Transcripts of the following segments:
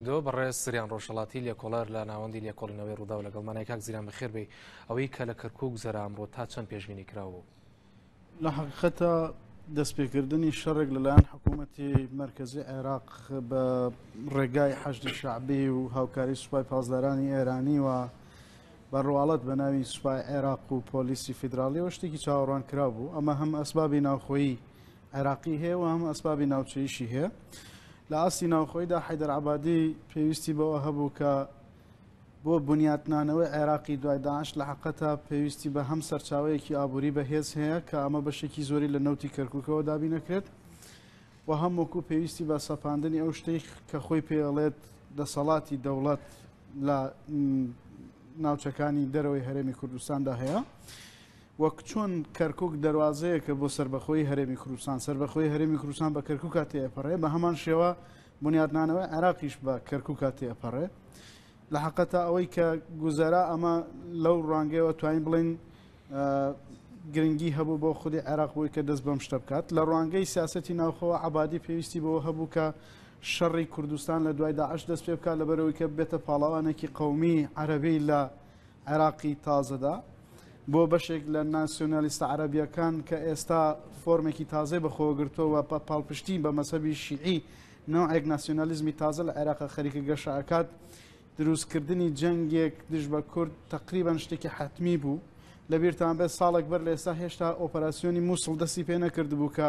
دۆ بەڕێز سریان ڕۆژهەڵاتی لێکۆڵەر لە ناوەندی لێکۆڵینەوەی ڕووداو لەگەڵمانای کاک زیران بەخێر بێی ئەوەی کە لە کەرکوک گوزەرا ئەمڕۆ تا چەند پێشبینی کراو بوو؟ لە حەقیقەتە دەستپێکردنی شەڕێک لەلایەن حکوومەتی مەرکەزی عێراق بە ڕێگای حەشدی شعبی و هاوکاری سوپای پاسدارانی ئێرانی و بە ڕواڵەت بە ناوی سوپای عێراق و پۆلیسی فیدراالیەوە شتێکی چاوەڕوان کرا بوو ئەمە هەم ئەسبابی ناوخۆیی عێراقی هەیە و هەموو ئەسبابی ناوچەییشی هەیە. لە ئاستی ناوخۆیدا حەیدەر عەبادی پێویستی بەوە هەبوو کە بۆ بنیاتنانەوەی عێراقی دوای داعش لە حەقەتە پێویستی بە هەم سەرچاوەیەکی ئابووری بەهێز هەیە کە ئەمە بەشێکی زۆری لە نەوتی کەرکووکەوە دابین نەکرێت و هەم وەکو پێویستی بە سەپاندنی ئەو شتەی کە خۆی پێڵێت دەسەڵاتی دەوڵەت لە ناوچەکانی دەرەوەی هەرێمی کوردستاندا هەیە. وەک چۆن کەرکوک دەروازەیەکە بۆ سەربەخۆیی هەرێمی کوردستان، سەربەخۆیی هەرێمی کوردستان بە کەرکوکا تێئەپەڕێ، بە هەمان شێوە بونیادنانەوەی عێراقیش بە کەرکوکا تێئەپەڕێ. لە حەقەتا ئەوەی کە گوزەرا ئەمە لەو ڕوانگەیەوە توانین بڵێین گرنگی هەبوو بۆ خودی عێراق بووی کە دەست بەم شتە بکات لە ڕوانگەی سیاستی ناوخەوە عبادی پێویستی بەوە هەبوو کە شەڕی کوردستان لە دوای داعش دەست پێ بکات لەبەرەوەی کە بێتە پاڵاوانێکی قومی عەربی لە عێراقی تازەدا، بۆ بەشێک لە ناسیۆنالیستە عەرەبییەکان کە ئێستا فۆرمێکی تازەی بەخۆوە گرتووە و بە پاڵپشتی بە مەزهەبی شیعی نەوعێک ناسیۆنالیزمی تازە لە عێراقە خەریکە گەشە ئەکات، دروستکردنی جەنگێک دژ بە کورد تەقریبەن شتێکی حەتمی بوو. لەبیرتان بێت ساڵێک بەر لە ئێستا هێشتا ئۆپەراسیۆنی مووسڵ دەستی پێ نەکردبوو کە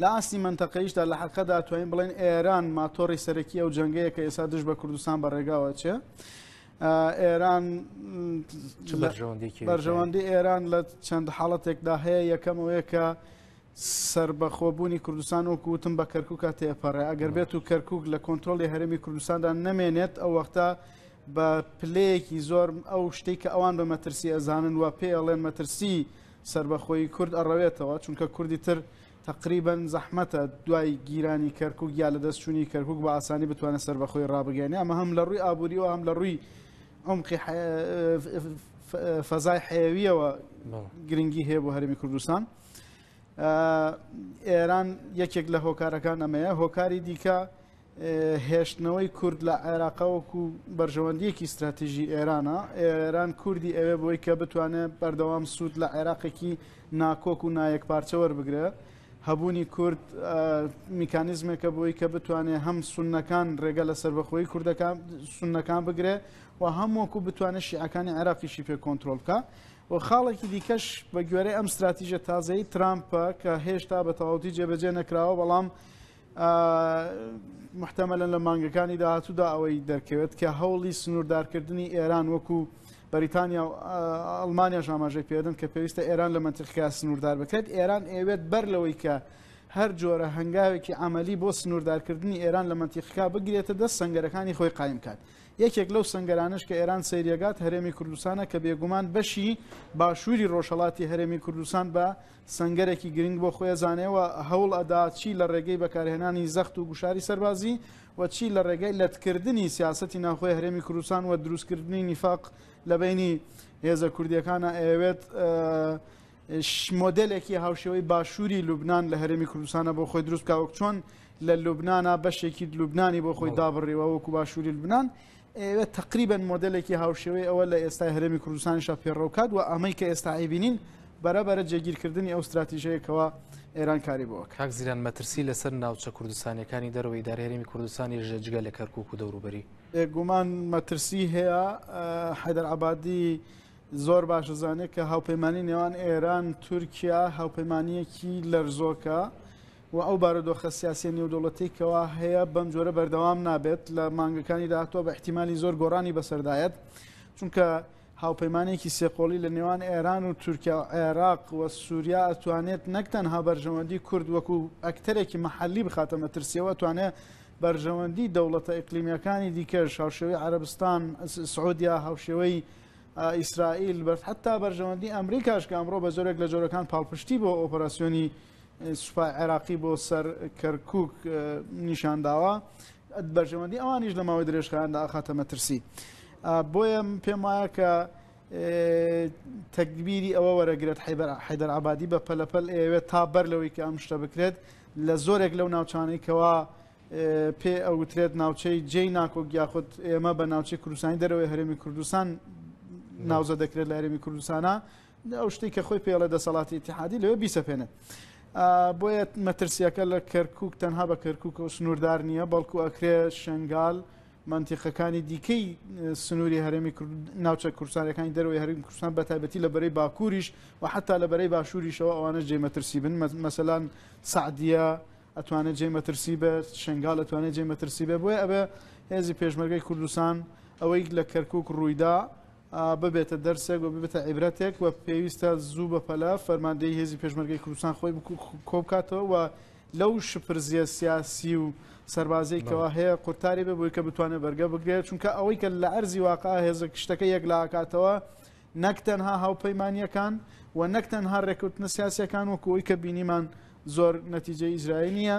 لە ئاستی مەنتەقەییشدا لە حەقەدا توانین بڵێن ئێران ماتۆڕی سەرەکی ئەو جەنگەیە کە ئێستا دژ بە کوردستان بە ڕێگاوە چێ. ئێران بەرژەوەندی ئێران لە چەند حاڵەتێکدا هەیە یەکەمەوەیە کە سربەخۆبوونی کوردستان وەکو وتم بە کەرککە تێپەڕێ ئەگەر بێت و کەرکک لە کۆنتترۆلی هەرمی کوردستاندا نەمێنێت ئەو وەختە بە پلەیەکی زۆر ئەو شتێک کە ئەوان بە مەترسی ئەزانن و پێڵێن مەترسی سەربەخۆیی کورد ئەڕەوێتەوە، چونکە کوردی تر تەقریبەن زەحمەتە دوای گیرانی کەرکوک یا لەدەست چونی کەرکوک بە ئاسانی بتوانێت سەربەخۆیی ڕابگەیەنێ، ئەمە هەم لە ڕووی ئابووریەوە هەم لە ڕووی عمقی فەزای حەیەویەوە گرنگی هەیە بۆ هەرێمی کوردستان. ئێران یەکێک لە هۆکارەکان ئەمەیە هۆکاری دیکە هێشتنەوەی کورد لە عێراقە وەکو بەرژەوەندیەکی ستراتیژی ئێرانە ئێران کوردی ئەوێ بۆی کە بتوانێت بەردەوام سوود لە عێراقێکی ناکۆک و نایەک پارچە وەربگرێت هەبوونی کورد میکانیزمێکە بۆی کە بتوانێت هەم سونەکان ڕێگە لە سربەخۆی کوردەکان سونەکان بگرێ و هەم وەکو بتوانێت شیعەکانی عێراقیشی پێ کۆنتترۆل بکە و خاڵێکی دیکەش بە گوێرەی ئەم ستراتیژە تازەی ترامپە کە هێشتا بە تەواوتی جێبەجێ نەکراوە بەڵام محتەمەلەن لە مانگەکانی داهاتوودا ئەوەی دەرکەوێت کە هەوڵی سنووردارکردنی ئێران وەکو بەریتانیا و ئەڵمانیاش ئاماژەی پێدن کە پێویستە ئێران لە منتیقیا سنووردار بکرێت ئێران ئەوێت بەر لەوەی کە هەر جۆرە هەنگاوێکی ئەعملی بۆ سنووردارکردنی ئێران لە منتیقا بگرێتە دەست سنگەرەکانی خۆی قایم کات یەکێک لەو سنگەرانش کە ئێران سەیرێگات هەرێمی کوردستانە کە بێگومان بەشی باشووری ڕۆژهڵاتی هەرێمی کوردستان بە سەنگەرێکی گرنگ بۆ خۆی ئەزانێ و هەوڵ ئەدا چی لە ڕێگەی بەکارهێنانی زەخت و گوشاری سەربازی و چی لە ڕێگای لەتکردنی سیاسەتی ناوخۆی هەرێمی کوردستان و دروستکردنی نیفاق لە بەینی هێزە کوردیەکانا ئەیەوێت مۆدلێکی هاوشێوەی باشووری لوبناان لە هەرێمی کوردستانە بۆ خۆی دروست کاوەک چۆن لە لوبنانا بەشێکی لوبنانی بۆ خۆی دابڕیوە وەکو باشووری لوبناان ئێ تەقریبەن مۆدێلێکی هاوشێوەی ئەوە لە ئێستای هەرێمی کوردستانیشا پێڕەو کات و ئەمەی کە ئێستا ئەیبینین بەرەبەرە جێگیرکردنی ئەو ستراتیژەیە کەوا ئێران کاری بۆ کاک زیران مەترسی لەسەر ناوچە کوردستانیەکانی دەرەوەی دار هەرێمی کوردستانی ژە جگە لە کەرکک و دەوروبەری بێگومان مەترسی هەیە حەدەر عبادی زۆر باشە زانێت کە هاوپەیمانانی نێوان ئێران تورکیا هاوپەیمانیەکی لەرزۆکە و ئەو بارودۆخە سیاسیە نێودەوڵەتیەی کەوا هەیە بەم جۆرە بەردەوام نابێت لە مانگەکانی داهاتوە بە احتیمالی زۆر گۆڕانی بەسەردایەت چونکە هاوپەیمانێکی سێقۆڵی لە نێوان ئێران و تورکیا و عێراق و سووریا ئەتوانێت نەک تەنها بەرژەوەندی کورد وەکو ئەکتەرێکی محلی بخاتە مەترسیەوە توانێت بەرژەوەندی دەوڵەتە ئیقلیمیەکانی دیکەش هاوشێوەی عربستان سعودیا هاوشێوەی ئیسرائیل بەر حتا بەرژەوەندی ئەمریکاش کە ئەمڕۆ بە زۆرێک لە جۆرەکان پاڵپشتی بۆ ئۆپەراسسیۆنی سوپای عێراقی بۆ سەر کەرکوک نیشانداوە بەرژەوەندی ئەوانیش لە ماوەی درێژخایاندا ئاخاتە مەترسی بۆیە پێم وایە کە تەکبیری ئەوە وەرەگرێت حیدەر عبادی بە پەلەپەل ئەوێت تا بەر لەوەی کە ئەم شتە بکرێت لە زۆرێک لەو ناوچانەی کەوا پێ ئەوترێت ناوچەی جێی ناکۆک یاخود ئێمە بە ناوچەی کوردستانی دەرەوەی هەرێمی کوردستان ناوزە دەکرێت لە هەرێمی کوردستانە ئەو شتەی کە خۆی پێ ئەڵێ دەسەڵاتی ئیتیحادی لەوێ بیسەپێنێ. بۆیە مەترسیەکە لە کەرکک تەنها بە کەرکک و سنووردار نییە بەڵکو ئەکرێ شنگال منتیقەکانی دیکەی سنووری هەرێمی ناوچە کورسانەکانی دەروی هەریم کوردستان بە تایبەتی لە بەرەی باکووریش و حتا لە بەرەی باشووریشەوە ئەوانە جێ مەترسی بن مەسەلاان سعدیە ئەتوانێت جێ مەترسی بێت شنگال ئەتوانێت جێ مەترسی بێ بۆیە ئەبێ هێزی پێشمەرگەی کوردستان ئەوەی لە کەرکک ڕوویدا ببێتە دەرسێک و ببێتە عیبرەتێک و پێویستە زوو بەپەلە فەرماندەی هێزی پێشمەرگەی کوردستان خۆی کۆبکاتەوە و لەو شپرزیە سیاسی و سەربازەی کەوا هەیە قورتاری بێ بۆی کە بتوانێت بەرگە بگرێت چونکە ئەوەی کە لە ئەرزی واقع هێزە شتەکە یەکلاکاتەوە نەک تەنها هاوپەیمانیەکان و نەک تەنها ڕێکوتنە سیاسەکان وەکوی کە بینیمان زۆر نەتیجە ئیزرائیل نییە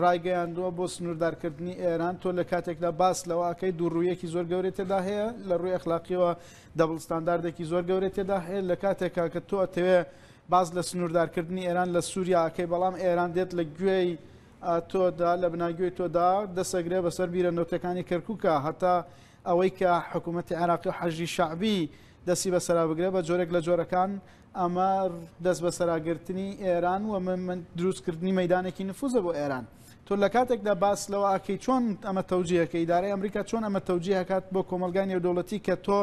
ڕایگەیاندووە بۆ سنووردارکردنی ئێران، تۆ لە کاتێکدا باس لەوە ئەکەیت دوو ڕوویەکی زۆر گەورەی تێدا هەیە، لە ڕووی ئەخلاقییەوە دەبڵ ستانداردێکی زۆر گەورەی تێدا هەیە، لە کاتێکا کە تۆ ئەتەوێ باس لە سنووردارکردنی ئێران لە سووریا ئەکەی، بەڵام ئێران دێت لە گوێی تۆدا، لە بناگوێی تۆدا دەست ئەگرێ بەسەر بیرە نەوتییەکانی کەرکووکا، هەتا ئەوەی کە حکوومەتی عێراقی و حەشدی شەعبی دەستی بەسەرا بگرێ، بە جۆرێک لە جۆرەکان ئەمە دەستبەسەراگرتنی ئێران و دروستکردنی مەدانێکی نفوزە بۆ ئێران تۆ لە کاتێکدا باس لەوە ئاکەی چۆن ئەمە تەوجیهەکە ئیدارای ئەمریکا چۆن ئەمە تەوجیهکات بۆ کۆمەلگای نێودەوڵەتی کە تۆ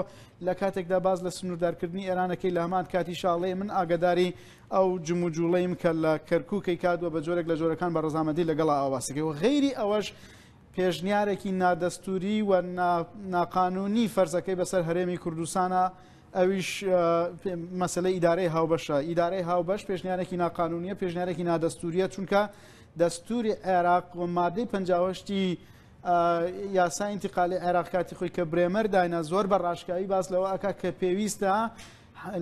لە کاتێکدا باز لە سنووردارکردنی ئێرانەکەی لە هەمان کاتی شاڵێ من ئاگداری ئەو جموجوڵیم کە لە کەرکووکەی کات و بە جۆرێک لە جۆرەکان بە ڕزامەندی لەگەڵ ئاواسەکەی و غیری ئەوەش پێشنیارێکی نادەستووری و ناقانوونی فەرزەکەی بەسەر هەرێمی کوردستانە، ئەویش مەسەلەی ئیدارەی هاوبەشە. ئیدارەی هاوبەش پێشنیارێکی ناقانوونییە، پێشنیارێکی نادەستوورییە، چونکە دەستووری عێراق و مادەی پەنجا و هەشتی یاسای ئینتیقالی عێراق کاتی خۆی کە برێمەر داینا زۆر بە ڕاشکاوی باس لەوە ئەکا کە پێویستە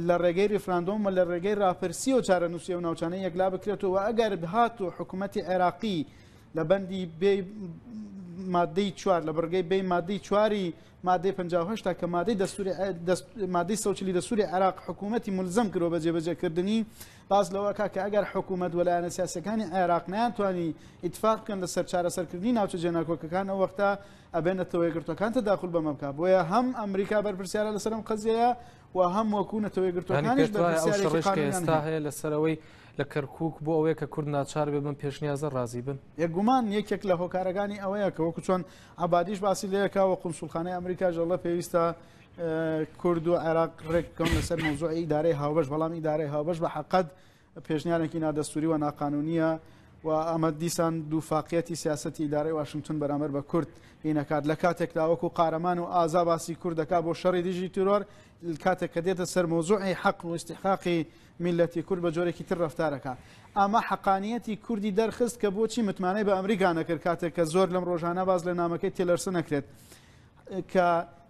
لە ڕێگەی ریفراندۆم و لە ڕێگەی راپرسی و چارەنووسی و ناوچانەی یەکلا بکرێتەوە ئەگەر هات و حکوومەتی عێراقی لە بەندی بێ مادەی چوار لە بڕگەی بێ مادەی چواری مادەی 1950 تا کە مادەی دەستوری مادەی سەوچلی دەسووری عراق حکوومەتتی ملزم کرۆ بە جێبەجێکردنی باز لەوەکە کە ئەگەر حکوومەت وەلایەنە سیاسەکانی عێراق نیانتوانی ئیتفاق بکەن لە سەر چارەسەرکردنی ناوچە جێناکۆکەکان ئەو وەختە ئەبێنێتەوە یەگرتوەکان تەداخل بەمە بکە بۆیە هەم ئەمریکا بەرپرسیارە لەسەرم قەزیەیە و هەم وەکوونەتەوەی گرتوەکانیش بەسیارێکستا هەیە لەسەرەوەی لە کەرکوک بۆ ئەوەیە کە کورد ناچار بێ بەم پێشنیازە ڕازی بن. بێ گومان یەکێک لە هۆکارەکانی ئەوەیە کە وەکو چۆن عەبادیش باسی لێ کە وە قونسوڵخانەی ئەمریکاش دەڵێ پێویستە کورد و عێراق ڕێک بکەون لەسەر مەوزوعی ئیدارەی هاوبەش بەڵام ئیدارەی هاوبەش بە حەقەت پێشنیارێکی نادەستوری و ناقانونیە و ئەمە دیسان دوو فاقیەتی سیاستی ئیدارەی واشنگتن بەرامەر بە کورد هینەکات لە کاتێکدا وەکو قارەمان و ئازا باسی کوردەکە بۆ شەڕی دژی تیرۆر کاتێک کە دێتە سەر مۆزوعی حەق و استحقاقی میللەتی کورد بە جۆرێکی تر رەفتار ئەکا. ئەمە حەقانییەتی کوردی دەرخست کە بۆچی متمانەی بە ئەمریکا نەکرد کاتێک کە زۆر لەم رۆژانە باس لە نامەکەی تیلەرسن ئەکرێت کە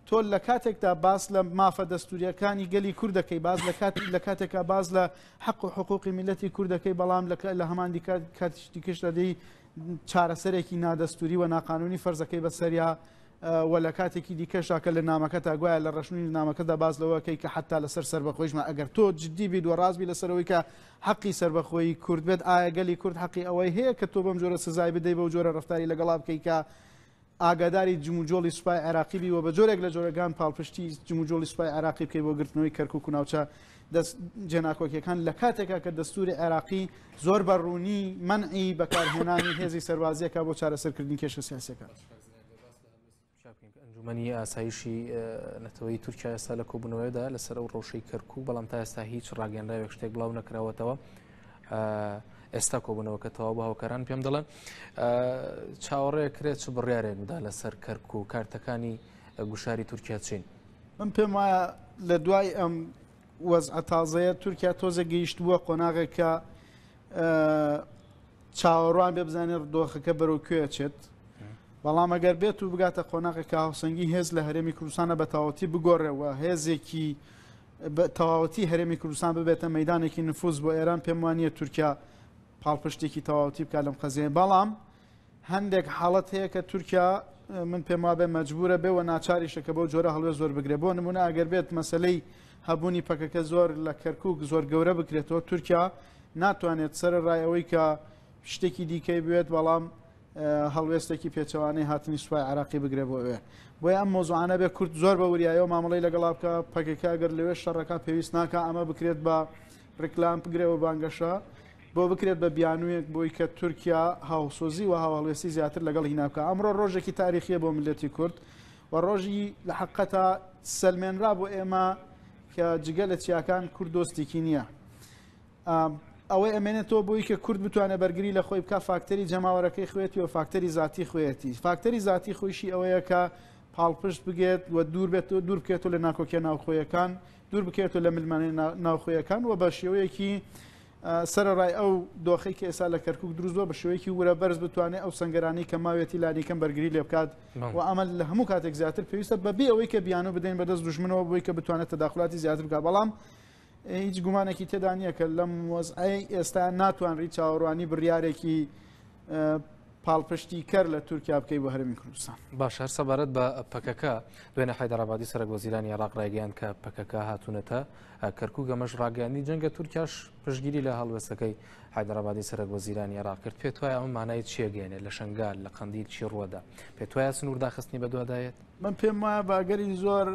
تۆ لە کاتێکدا باس لە مافە دەستورییەکانی گەلی کورد دەکەی باس لە کاتی لە کاتێکا باس لە حەق و حقوقی میللەتی کورد دەکەی بەڵام لە هەمان دیکە کاتیش دیکەش دەدەی چارەسەرێکی نادەستوری و ناقانونی فەرزەکەی بەسەریا وە لە کاتێکی دیکەشدا کە لە نامەکەتا گوایە لە ڕەشنووی نامەکەدا باس لەوە کەی کە حەتتا لەسەر سەربەخۆیشمان ئەگەر تۆ جددی بیت وە ڕاست بی لەسەر ئەوەی کە حەقی سەربەخۆیی کورد بێت ئایا گەلی کورد حەقی ئەوەی هەیە کە تۆ بەم جۆرە سزای بدەی بەو جۆرە ڕفتاری لەگەڵا بکەی کە ئاگاداری جموجۆڵی سوپای عێراقی بی و بە جۆرێک لە جۆرەگان پاڵپشتی جموجۆڵی سوپای عێراقی بکەی بۆ گرتنەوەی کەرکک و ناوچە دەست جێناکۆکیەکان لە کاتێکا کە دەستوری عێراقی زۆر بە ڕوونی منعی بەکارهێنانی هێزی سەربازیەکە بۆ چارەسەرکردنی کێشە سیاسەکە. ئەنجومەنی ئاسایشی نەتەوەی تورکیا ئێستا لە کۆبوونەوەدا لەسەر ئەو ڕەوشەی کەرکک و بەڵام تا ئێستا هیچ ڕاگەنراوێک شتێک بڵاو نەکراوەتەوە ئێستا کۆبوونەوەکە تەواو بە هۆکاران پێم دەڵێن چاوەڕێ کرێت چ بڕیارێک بدا لەسەر کەرکک و کارتەکانی گوشاری تورکیا چین من پێم وایە لە دوای ئەم وەزعە تازەیە تورکیا تۆزێک گەیشتبووە قۆناغێک کە چاوەڕوان بێ بزانێت ڕدۆخەکە بەرەو کوێچێت بەڵام ئەگەر بێت و بگاتە قۆناغێکە هاوسەنگی هێز لە هەرێمی کوردستانە بە تاوەتی بگۆڕێەوە هێزێکی تەواوەتی هەرێمی کوردستان ببێتە مەدانێکی نفوز بۆ ئێران پێم وانە تورکیا پاڵپشتێکی تەواوتی بکە لەم قەزیێن بەڵام هەندێک حاڵەت هەیە کە تورکیا من پێم وابێ مەجبورە بێ و ناچاریشە کە بەو جۆرە هەڵوێ زۆر بگرێ بۆ نمونە ئەگەر بێت مەسلەی هەبوونی پەکەکە زۆر لە کەرکک زۆر گەورە بکرێتەوە تورکیا ناتوانێت سەر ڕای ئەوەی کە شتێکی دیکەی بێت بەڵام هەڵوێستێکی پێچەوانەی هاتنی سوپای عراقی بگرێ بۆ ئەوێ بۆی ئەم مۆزوانە بێ کورت زۆر بە وریایەوە مامەڵی لەگەڵا بکە پەکەکە گەر لەوێ شەڕەکە پێویست ناکە ئەمە بکرێت بە ڕیکلام بگرە و بانگەشە بۆ بکرێت بە بیانوویەک بۆی کە تورکیا هاوسۆزی و هاوهەڵوێستی زیاتر لەگەڵ هینا بکە ئەمڕۆ ڕۆژێکی تاریخیە بۆ ملەتی کورد و ڕۆژی لە حقەتا سلمێنرا بۆ ئێمە کە جگە لە چیاکان کورد دۆستێکی نییە ئەوەی ئەمێنێتەوە بۆی کە کورد بتوانێت بەرگری لە خۆی بکە فاکتەری جەماوەرەکەی خوێتی و فاکتەری زیاتی خوێتی فاکتەری زیاتی خۆشی ئەوەیە کە پاڵپشت بگێت و دوور بێت و دوور بکێت و لە ناکۆکیە ناوخۆیەکان دوور بکەوێتەوە لە ململانێ ناوخۆیەکان و بە شێوەیەکی سەرەڕای ئەو دۆخی کە ئێستا لە کەرکک دروستوە بە شێوەیەکی ورە بەرز بتوانێت ئەو سنگەرانی کە ماوێتی لانیکەم بەرگری لێ بکات و ئەمە لە هەموو کاتێک زیاتر پێویستە بەبێ ئەوەی کە بیانو بدەین بەدەست دژمنەوە بۆی کە بتوانێت تەداخلاتی زیاتر بکە بەڵام هیچ گومانێکی تێدا نییە کە لەم وەزعی ئێستا ناتوان ڕی چاوەڕوانی بڕارێکی پاڵپشتی کەر لە تورکیا بکەی بۆ هەرمی کوردستان باش هەر سەبارەت بە پەکەکە دوێنە حیدرابادی سەرک وەزیرانی عراق ڕایگەیان کە پەکەکە هاتوونەتە کەرکوو گەمەش ڕاگەیاندی جەنگە تورکیاش پشگیری لە هەڵوێستەکەی حیدرابادی سەرک وەزیرانی عراق کرد پێت وایە ئەم مانای چێگەێنێ لە شنگال لە قندیل چی ڕووەدا پێت وایە سنوور داخستنی بەدوادایەت من پێم وایە باگەری زۆر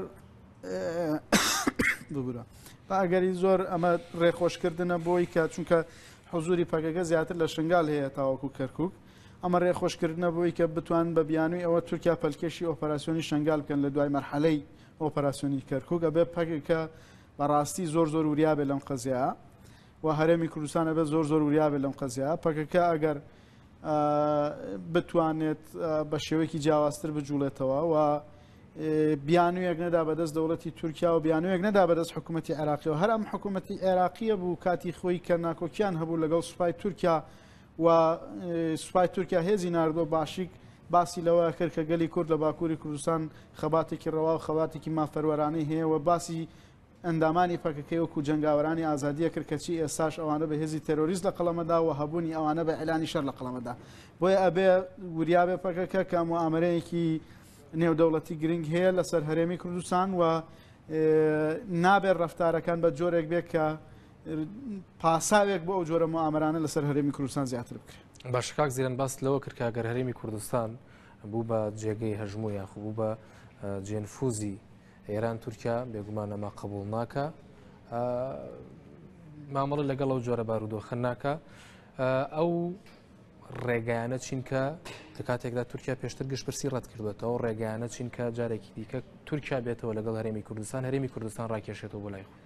بگورە باگەری زۆر ئەمە ڕێخۆشکردنە بۆی کە چونکە حزوری پەکەکە زیاتر لە شنگال هەیە تاوەکو کەرکوک، ئەمە رێخۆشکردنە بۆی کە بتوانن بە بیانوی ئەوە تورکیا پەلکێشی ئۆپەراسیۆنی شنگال بکەن لە دوای مەرحەلەی ئۆپەراسیۆنی کەرکوک ئەبێ پەکەکە بە راستی زۆر زۆر وریا بێت لەم قەزیایە و هەرێمی کوردستان ئەبێت زۆر زۆر وریا بێت لەم قەزیایە پەکەکە ئەگەر بتوانێت بە شێوەیەکی جیاوازتر بجوڵێتەوە و بیانوویەک نەدا بەدەست دەوڵەتی تورکیا و بیانوویەک نەدا بەدەست حکوومەتتی عێراقیەوە هەر ئەم حکوومەتتی عێراقیە بوو کاتی خۆی کە ناکۆکیان هەبوو لەگەڵ سوپای تورکیا و سوپای تورکیا هێزی نردۆ باشیک باسی لەوە کرد کە گەلی کورد لە باکووری کوردستان خەباتێکی ڕەوا و خەباتێکی مافەروەرانەی هەیە و باسی ئەندامانی پەکەکەی وەکو جنگاوەرانی ئازادیە کرد کەچی ئێستاش ئەوانە بە هێزی تەرۆریست لە قەڵەمەدا و هەبوونی ئەوانە بە ئەلانی شەر لە قەڵەمەدا بۆیە ئەبێ وریابێ پەکەکە کە ئەمە ئامرەیەکی نێودەوڵەتی گرنگ هەیە لەسەر هەرێمی کوردستان و نابێت ڕفتارەکان بە جۆرێک بێت کە پاساوێک بۆ ئەو جۆرە مامرانە لەسەر هەرێمی کوردستان زیاتر بکرێت باشکاک زیران باس لەوە کردکگەر هەرێمی کوردستان بوو بە جێگەی هەژموو یاخب بوو بە جێنفوزی ئێران تورکیا بێگومانەما قبول ناکە مامەڵە لەگەڵ ئەو جۆرە بارودۆخە ناکە ئەو ڕێگایانە چینکە لە کاتێکدا تورکیا پێشتر گشتپرسی ڕەت کردوێتەوە ڕێگایانە چینکە جارێکی دیکە تورکیا بێتەوە لەگەڵ هەرێمی کوردستان هەرێمی کوردستان ڕاکێشێتەوە بۆ لای خۆ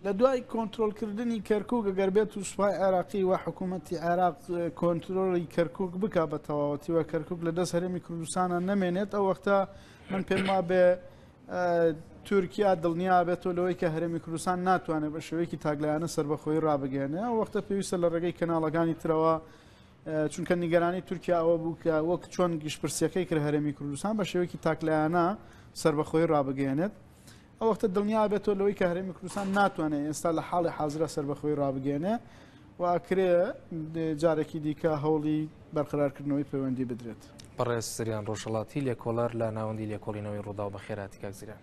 لە دوای کۆنتترۆلکردنی کەرکک گەگەر بێت و سوپای عێراقی و حکوومەتتی عێراق کۆنتترۆلی کەرکک بک بە تەواوەتیوە کەرکک لە دەست هەرێمی کوردستانە نەمێنێت ئەو وەختە من پێم وابێ تورکیا دڵنیابێتەوە لەوەی کە هەرێمی کوردستان ناتوانێت بە شێوەیەکی تاکلایەنە سربەخۆی ڕابگەێنێ ئەو وەختە پێویستە لە ڕێگەی کەناڵەکانی ترەوە چونکە نیگەرانی تورکیا ئەوە بوو کە وەک چۆن گشتپرسیەکەی کرد هەرێمی کوردستان بە شێوەیەکی تاکلایەنە سربەخۆی ڕابگەێنێت ئەو وەختە دڵنیابێتەوە لەوەی کە هەرێمی کوردستان ناتوانێت ئێستا لە حاڵی حاضرە سربەخۆی ڕابگەێنێ و ئەکرێ جارێکی دیکە هەوڵی بەرقەرارکردنەوەی پەیوەندی بدرێت. بەڕێز زریان ڕۆژهەڵاتی لێکۆڵەر لە ناوەندی لێکۆڵینەوەی ڕووداو بەخێرهاتی کاک زریان.